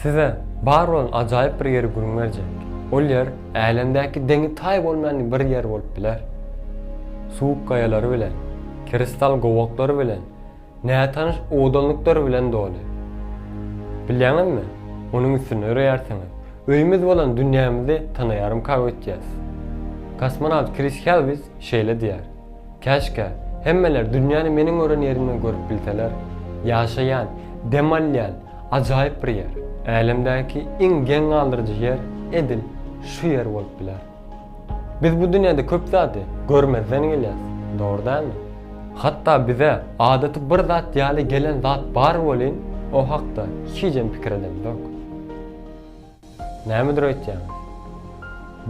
Size bar bolan ajaýyp bir ýeri gürňerjek. Ol ýer älemdäki deňi-taýy bolmaýan bir ýer bolup biler. Suwuk gaýalary bilen, kristal gowaklary bilen, nätanyş owadanlyklary bilen doly. Bilýäňizmi, onuň üstünde ýöreýärsiňiz. Öýümiz bolan dünýämizi tanaýarymyka öýtýäs. Kosmonawt Kris Helwis şeýle diýýär, Käşgä, hemmeler dünýäni meniň gören ýerimden görüp bilseler. Ýaşaýan, dem alýan, Ajaýyp bir ýer. Älemdäki iň geň galdyryjy ýer edil şu ýer bolup biler. Biz bu dünýäde köp zady görmezden gelýäs, dogry dälmi? Hatda bize adaty bir zat ýaly gelen zat bar welin, o hakda hijem pikir edemzok. Nämedir öýtýäňiz?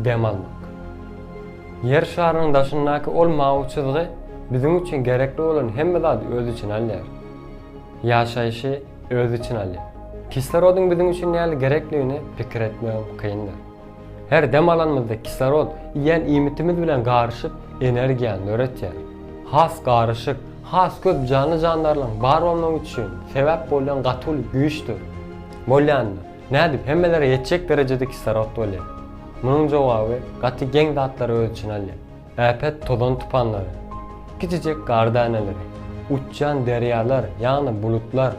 Dem almak. Ýer şarynyň daşyndaky ol mawy çyzgy biziň üçin gerekli bolan hemme zady öz içine alýar. Ýaşaýşy öz içine alýar. Kislorodyň biziň üçin nähili gerekligini pikir etmegem kyndyr. Her dem alanymyzda kislorod iýen iýmitimiz bilen garyşyp, energiýany döretýär. Has garyşyk, has köp janly-jandarlaryň bar bolmagy üçin sebäp bolýan gaty uly güýçdür. Bolýandyr. Nädip hemmelere ýetjek derejede kislorod bolýar? Munuň jogaby gaty geň zatlary öz içine alýar. Äpet tozan tupanlary, kiçijek gar däneleri, uçýan derýalar, ýagny bulutlar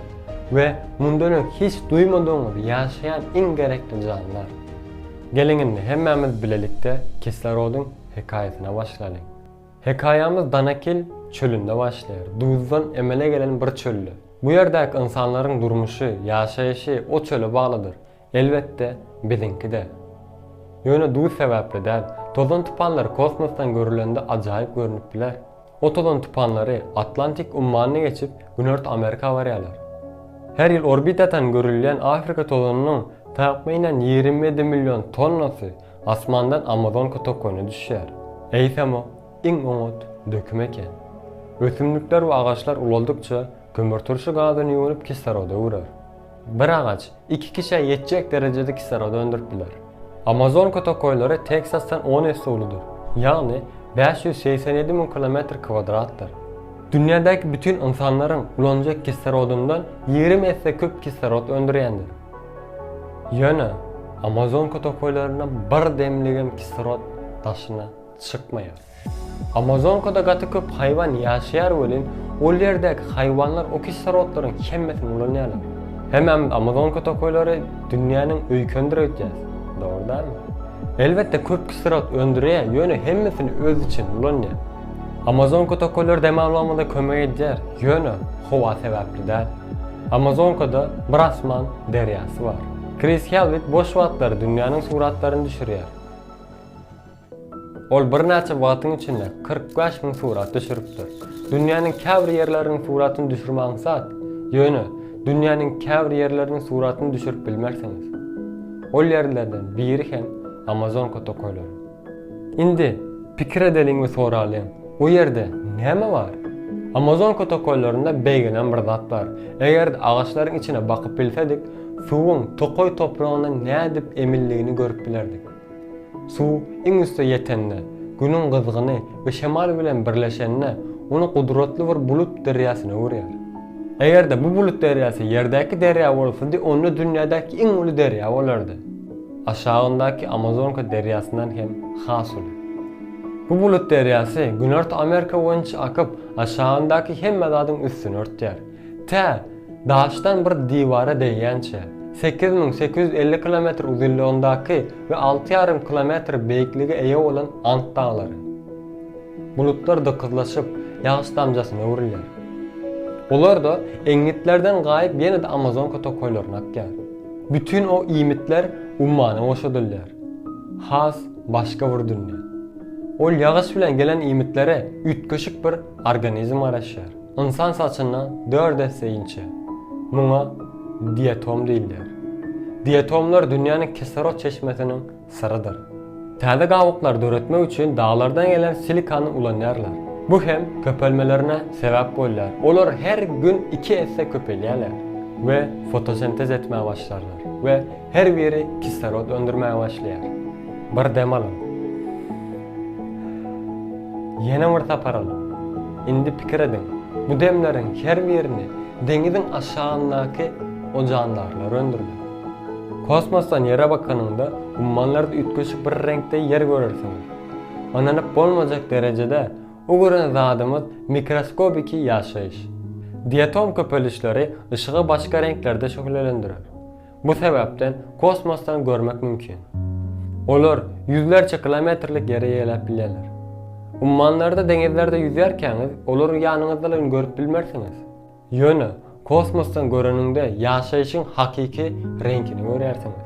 we mundan öň hiç duýmadygyňyz ýaşaýan iň gerekli janlar. Geliň indi hemmämiz bilelikde kislorodyň hekaýasyna başlalyň. Hekaýamyz Danakil çölünde başlaýar. Duzdan emele gelen bir çölde. Bu ýerdäki ynsanlaryň durmuşy, ýaşaýşy o çöle baglydyr. Elbetde, biziňki-de. Ýöne duz sebäpli däl. Tozan-tupanlar kosmosdan görülende ajaýyp görnüp biler. O tozan-tupanlary Atlantik ummanyny geçip, Günorta Amerika barýarlar. Her ýyl orbitadan görülýän Afrika tozanynyň takmynan ýigrimi ýedi million tonnasy Asmandan amazonka tokony düşýär. Eýsem o, iň oňat döküm eken. Ösümlikler we agaçlar ulaldykça, kömürturşy gazyny ýuwunyp kisloda öwrer. Bir agaç iki kişä ýetjek derejede kislorod öndürip biler. Amazonka tokaýlary Teksasdan on esse uludyr, ýagny bäş ýüz segsen ýedi müň kilometr kwadratdyr. Dünýädäki bütin ynsanlaryň ulanjak kislorodyndan ýigrimi esse köp kislorod öndürýändir. Ýöne Amazonka tokaýlarynda bir demligem kislorod daşyna çykmaýar. Amazonkada gaty köp haýwan ýaşaýar welin, ol ýerdäki haýwanlar o kislorodlaryň hemmesini ulanýarlar. Hemmämiz Amazonka tokaýlary dünýäniň öýkenidir öýtýäs, dogry dälmi? Elbetde köp kislorod öndürýär, ýöne hemmesini özi üçin ulanýar. Amazonka tokaýlary dem almagymyza kömek edýär, ýöne howa sebäpli däl. Amazonkada bir asman derýasy bar. Kris Helwig boş wagtlary dünýäniň suratlaryny düşürýär. Ol birnäçe wagtyň içinde kyrk bäş müň surat düşüripdir. Dünýäniň käbir ýerleriniň suratyny düşürme aňsat, ýöne dünýäniň käbir ýerleriniň suratyny düşürip bilmersiňiz. Ol ýerlerden biri hem Amazonka tokaýlary. Indi pikir edeliň we soralyň, o ýerde näme bar? Amazonka tokaýlarynda beýgelän bir zat bar. Eger-de agaçlaryň içine bakyp bilsedik, suwuň tokaý topragyndan nädip emildigini görüp bilerdik. Suw iň üste ýetende, Günüň gyzgyny we şemal bilen birleşende, ony gudratly bir bulut derýasyna öwürýär. Eger-de bu bulut derýasy ýerdäki derýa bolsady, onda dünýädäki iň uly derýa bolardy. Aşagyndaky Amazonka derýasyndan hem has uly. Bu bulut derýasy Günorta Amerika boýunça akyp, aşagyndaky hemme zadyň üstüni örtýär. Tä, daşdan bir diwara degýänçä, sekiz müň sekiz ýüz elli kilometr uzynlygyndaky we alty ýarym kilometr beýiklige eýe bolan Ant daglary. Bulutlar dykyzlaşyp, ýagyş damjasyna öwrülýär. Olar-da eňňitlerden gaýyp ýene-de Amazonka tokaýlaryna akýar. Bütin o iýmitler ummana goşadylýar. Has başga bir dünýä. Ol ýagyş bilen gelen iýmitlere üýtgeşik bir organizm garaşýar. Ynsan saçyndan dört esse inçe. Muňa diatom diýilýär. Diatomlar dünýäniň kislorod çeşmesiniň syrydyr. Täze gabyklar döretmek üçin daglardan gelen silikany ulanýarlar. Bu hem köpelmelerine sebäp bolýar. Olar her gün iki esse köpelýärler we fotosentez etmäge başlarlar we her biri kislorod öndürmäge başlaýar. Bir dem alyň. Ýene bir sapar alyň. Indi pikir ediň, bu demleriň her birini deňiziň aşagyndaky o jandarlar öndürdi. Kosmosdan Ýere bakanyňda, ummanlarda üýtgeşik bir reňkde Ýer görersiň. Ynanyp bolmajak derejede o gören zadymyz mikroskopiki ýaşaýyş. Diatom köpelişleri yşygy başga reňklerde şöhlelendirer. Bu sebäpden kosmosdan görmek mümkin. Olar ýüzlerçe kilometrlik ýere ýeläp bilýärler. Ummanlarda, deňizlerde ýüzýärkäňiz, olary ýanyňyzdalygyny görüp bilmersiňiz. Ýöne kosmosdan göreniňde ýaşaýşyň hakyky reňkini görýärsiňiz.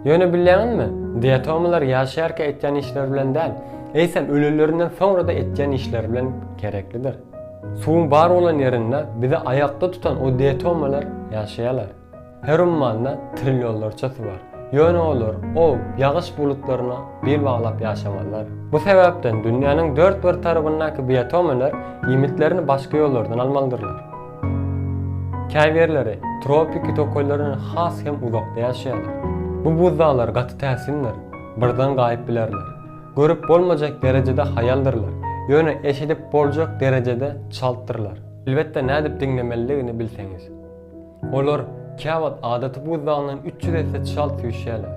Ýöne bilýäňizmi, diatomylar ýaşaýarka etýän işleri bilen däl, eýsem ölelerinden soňra-da etýän işleri bilen gereklidir. Suwuň bar bolan ýerinde bizi aýakda tutan o diatomalar ýaşaýarlar. Her ummanda trillionlarça su bar. Ýöne olar ow, ýagyş bulutlaryna bil baglap ýaşamazlar. Bu sebäpden dünýäniň dört bir tarabyndaky biotomeler iýmitlerini başga ýollardan almalydyrlar. Käbirleri tropiki tokaýlardan has hem uzakda ýaşaýarlar. Bu buzdaglar gaty täsindir, birden gaýyp bilerler. Görüp bolmajak derejede haýaldyrlar, ýöne eşidip boljak derejede çaltdyrlar. Elbetde nädip diňlemelidigini bilseňiz. Olar käwagt adaty buzdagyndan üç ýüz esse çalt süýşýärler.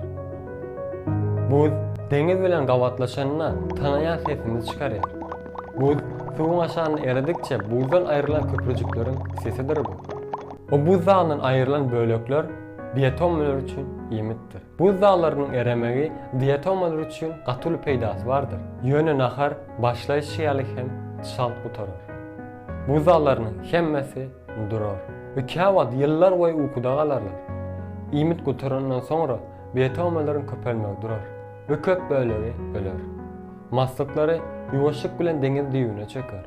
Buz deňiz bilen gabatlaşanda tanaýan sesini çykarýar. Buz suwuň aşagynda eredikçe buzdan aýrylan köprüjikleriň sesidir bu. Bu buz dagyndan aýrylan bölekler diatomalar üçin iýmitdir. Buz daglarynyň eremegi diatomalar üçin gaty uly peýdasy bardyr. Ýöne nahar başlaýşy ýaly hem çalt gutarar. Buz daglarynyň hemmesi durar we käwagt ýyllar boýy ukuda galarlar. Iýmit gutarandan soňra biotomalryň köpelmegi durar we köp bölegi öler. Maslyklary ýuwaşlyk bilen deňiz düýbüne çöker.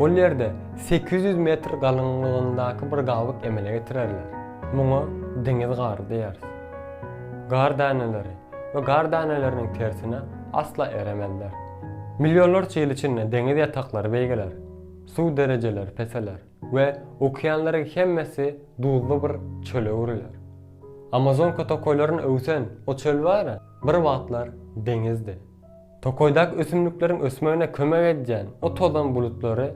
Ol ýerde sekiz ýüz metr galyňlygyndaky bir gabyk emele getirerler. Muňa deňiz gary diýeris. Gar däneleri we gar däneleriniň tersine asla eremezler. Millionlarça ýyl içinde deňiz ýataklary beýgeler. Suw derejeleri peseler we okeanlaryň hemmesi duzly bir çöle öwrüler. Amazonka tokaýlaryn öwsen o çöl bara bir wagtlar deňizdi. Tokaýdaky ösümlikleriň ösmegine kömek edýän o tozan bulutlary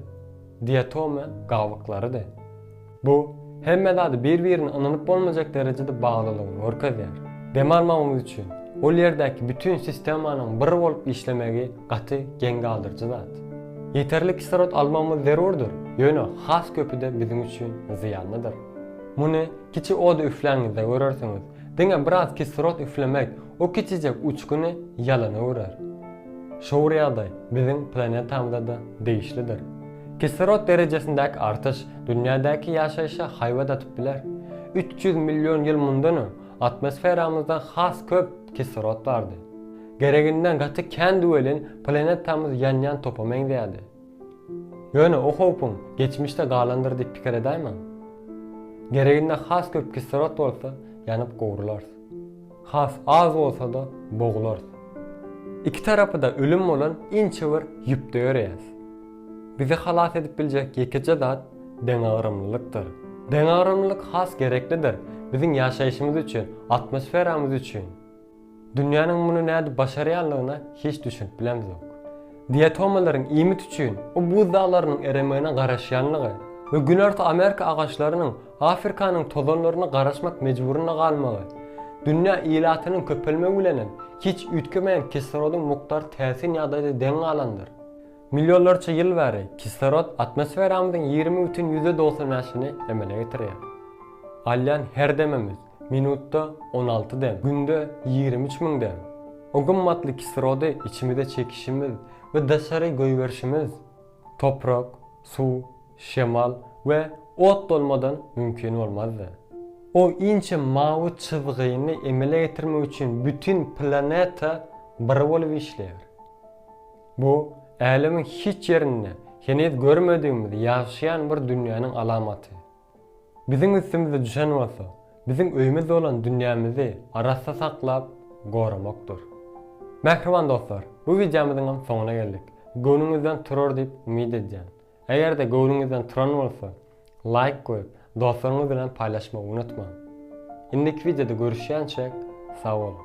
diatoma gabyklarydy. Bu, hemme zady bir-birine ynanyp bolmajak derejede baglylygyny görkezýär. Dem almagymyz üçin, ol ýerdäki bütin sistemanyň bir bolup işlemegi gaty geň galdyryjy zat. Ýeterlik kislorod almagymyz zerurdyr, ýöne has köpi-de biziň üçin zyýanlydyr. Muny kiçi oda üfläňizde görersiňiz. Diňe biraz kislorod üflemek o kiçijek uçguny ýalana öwrer. Şugur ýagdaý biziň planetamyza-da degişlidir. Kislorod derejesindäki artyş dünýädäki ýaşaýşa haýbat atyp biler. Üç ýüz million ýyl mundan öň atmosferamyzda has köp kislorod bardy. Gereginden gaty kändi welin, planetamyz ýanýan topa meňzeýärdi. Ýöne o howpuň geçmişde galandyr diýip pikir edäýmäň. Gereginde has köp kislorod bolsa, ýanyp gowrularys. Has az bolsa-da boglarys. Iki tarapy-da ölüm bolan inçe bir ýüpde ýöreýäs. Bizi halas edip biljek ýekeje zat deňagramlylykdyr. Deňagramlylyk has gereklidir biziň ýaşaýşymyz üçin, atmosferamyz üçin. Dünýäniň muny nädip başarýanlygyna hiç düşünip bilemzok. Diatomalaryň iýmit üçin bu buz daglarynyň eremegine garaşýanlygy we Günorta Amerika agaçlarynyň Afrikanyň tozanlaryna garaşmak mejburynda galmagy, dünýä ilatynyň köpelmegi bilenem hiç üýtgemeýän kislorodyň mukdary täsin ýagdaýda deň galandyr. Millionlarça ýyl bäri kislorod atmosferamyzyň ýigrimi bütin ýüzde dogsan bäşini emele getirýär. Alýan her demimiz, Minutda on alty dem, günde ýigrimi üç müň dem. O gymmatly kislorody içimize çekişimiz we daşary goýberişimiz toprak, suw, şemal we ot bolmadan mümkin bolmazdy. O inçe mawy çyzgyny emele getirmek üçin bütin planeta bir bolup işleýär. Bu Älemiň hiç ýerinde heniz görmedigimiz ýagşaýan bir dünýäniň alamaty. Biziň üstümize düşen bolsa, biziň öýümiz bolan dünýämizi arassa saklap, goramakdyr. Mähriban dostlar, bu wideomyzyň hem soňuna geldik. Göwnüňizden turar diýip umyt edýän. Eger-de göwnüňizden turan bolsa, laýk goýup, dostlaryňyz bilen paýlaşmagy unutmaň. Indiki wideoda görüşýänçäk, sag boluň!